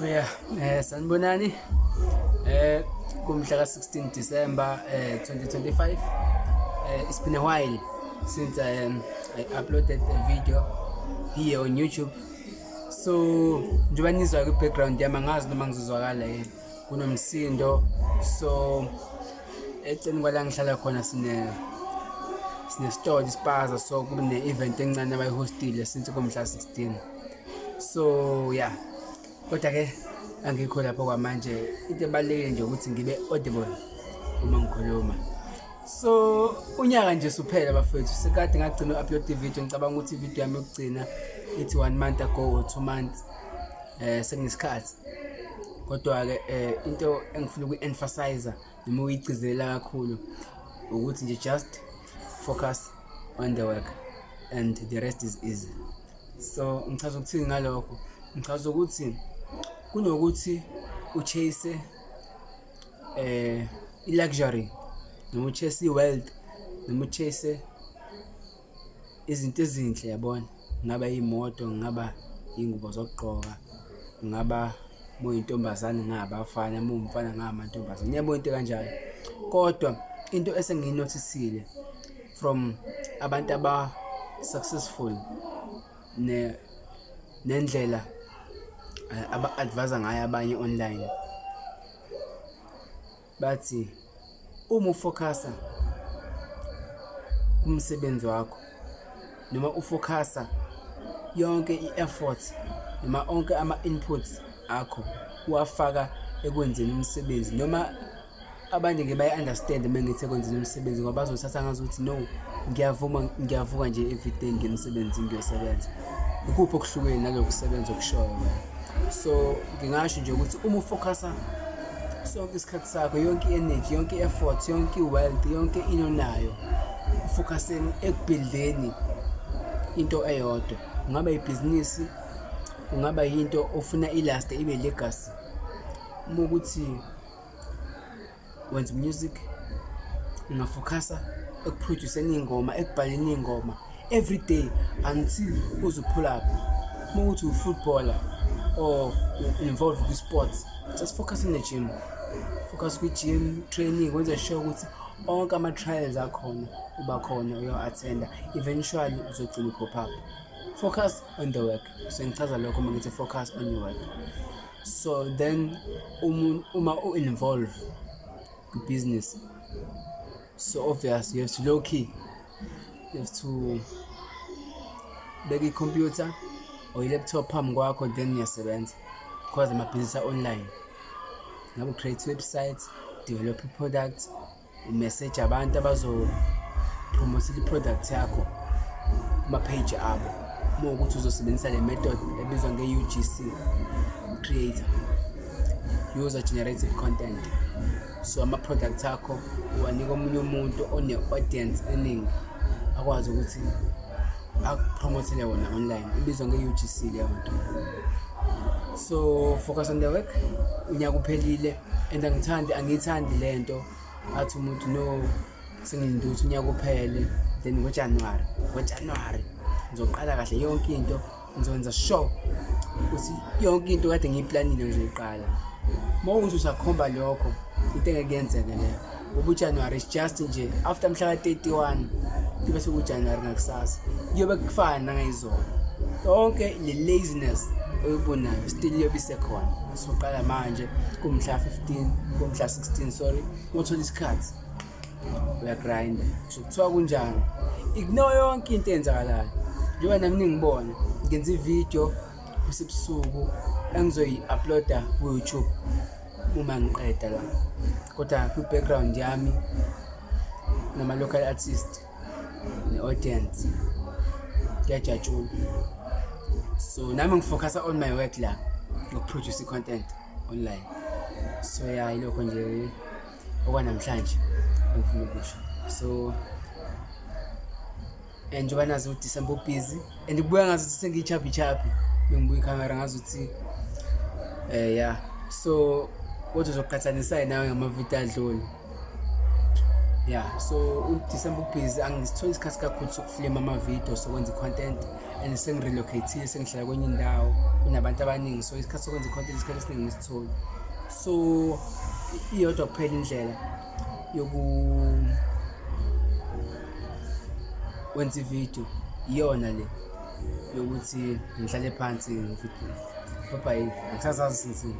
Yeah, eh sanibonani. Eh kumhla ka-16 December eh 2025. Eh it's been a while since I um, I uploaded a video here on YouTube. So njengoba nizwa kwi background yami angazi noma ngizozwakala yini. Kunomsindo. So eceleni kwala ngihlala khona sine sinesitolo ispaza so kune event encane abayihostile since kumhla 16. so yeah kodwa ke angikho lapho kwamanje into ebalulekile nje ukuthi ngibe audible uma ngikhuluma so unyaka nje suphela bafethu sekade ngagcina u-upload ivideo ngicabanga ukuthi ivideo yami yokugcina ithi one month ago or two months um sengisikhathi kodwa-ke um into engifuna ukuyi-emphasizer noma uyigcizelela kakhulu ukuthi nje just focus on the work and the rest is easy so ngichaza ukuthini ngalokho ngichaza ukuthi kunokuthi uchase eh i-luxury noma uchase i-wealth noma uchase izinto ezinhle yabona ngaba iy'moto ngaba iy'ngubo zokugqoka ngaba muyintombazane ngabafana muwumfana ngamantombazane uyabona into kanjalo kodwa into esengiyinothisile from abantu aba successful ne nendlela eh, aba advise ngayo abanye online bathi uma ufocusa kumsebenzi wakho noma ufocusa yonke i-effort noma onke ama-inputs akho uwafaka ekwenzeni umsebenzi noma abanye ke bayi-understand uma ngithi ekwenzeni umsebenzi ngoba bazothatha ngazi ukuthi no ngiyavuma ngiyavuka nje everyday ngiye emsebenzini ngiyosebenza ikuphi okuhlukene naloku kusebenza okushoyo so ngingasho nje ukuthi uma ufocusa sonke isikhathi sakho yonke i-energy yonke i-effort yonke i-wealth yonke into nayo ufocuseni ekubhildeni into eyodwa kungaba ibhizinisi kungaba yinto ofuna ilaste ibe legacy uma ukuthi wenza music ungafokhasa ekuproduceni iy'ngoma ekubhaleni iy'ngoma every day until uzuphulaphi uma ukuthi ufootballer or involved kwi-sports just focus in the gym focus kwi-gym training wenze sure ukuthi onke ama-trials akhona uba khona uyo-athenda eventually uzogcina u-pop up focus on the work sengichaza lokho uma ngithi focus on your work so then um, uma u-involve kwi-business so obvious you have to low key you have to beka i-computer or i-laptop phambi kwakho then uyasebenza because amabhizinisi a-online ngabe create website develop i-product umeseje abantu abazophromothela i-product yakho kuma-page abo uma ukuthi uzosebenzisa le method ebizwa nge-ugc creator user generated content so ama-product akho uwanika omunye umuntu one-audience eningi akwazi ukuthi akupromothele wona online ibizwa nge-ugc leyo nto so focus on the work unyaka uphelile and angithandi angiyithandi le nto athi umuntu no sengilinde ukuthi unyaka uphele then ngojanuwari ngojanuwari ngizoqala kahle yonke into ngizokwenza sure ukuthi yonke into kade ngiyiplanile ngizoyiqala uma uthi usakhomba lokho into engeke yenzeke leyo ubujanuwari is just nje after mhla ka-31 kube sekujanuwari nakusasa kuyobe kufana nangayizolo yonke le laziness oyibonayo still iyobe isekhona soqala manje kumhla 15 kumhla 16 sorry uthola isikhathi uyagrinda kusho kuthiwa kunjani ignore yonke into eyenzakalayo njengoba nami ningibona ngenza ividiyo kusebusuku engizoyi-uploada ku-youtube uma ngiqeda la kodwa kwi-background yami nama-local artist ne-audience kuyajatshula so nami ngifocusa on my work la ngokuproduce i-content online so ya yilokho nje okwanamhlanje engifuna ukusho so and njengoba nazi ukuthi December busy and kubuya ngazi ukuthi sengiyichaphi chaphi bengibuya ikhamera ngazi ukuthi eh yeah so kodwa uzoqhathanisa nawe ngamavidiyo adlule yeah so uDecember ubhizi angisitholi isikhathi kakhulu sokufilima amavidiyo sokwenza i-content and sengirelocathile sengihlala kwenye indawo kunabantu abaningi so isikhathi sokwenza i-content isikhathi esiningi ngisitholi so iyodwa kuphela indlela yokwenza ividiyo iyona le yokuthi ngihlale phansi ngibhabhayile angisazazi sinsini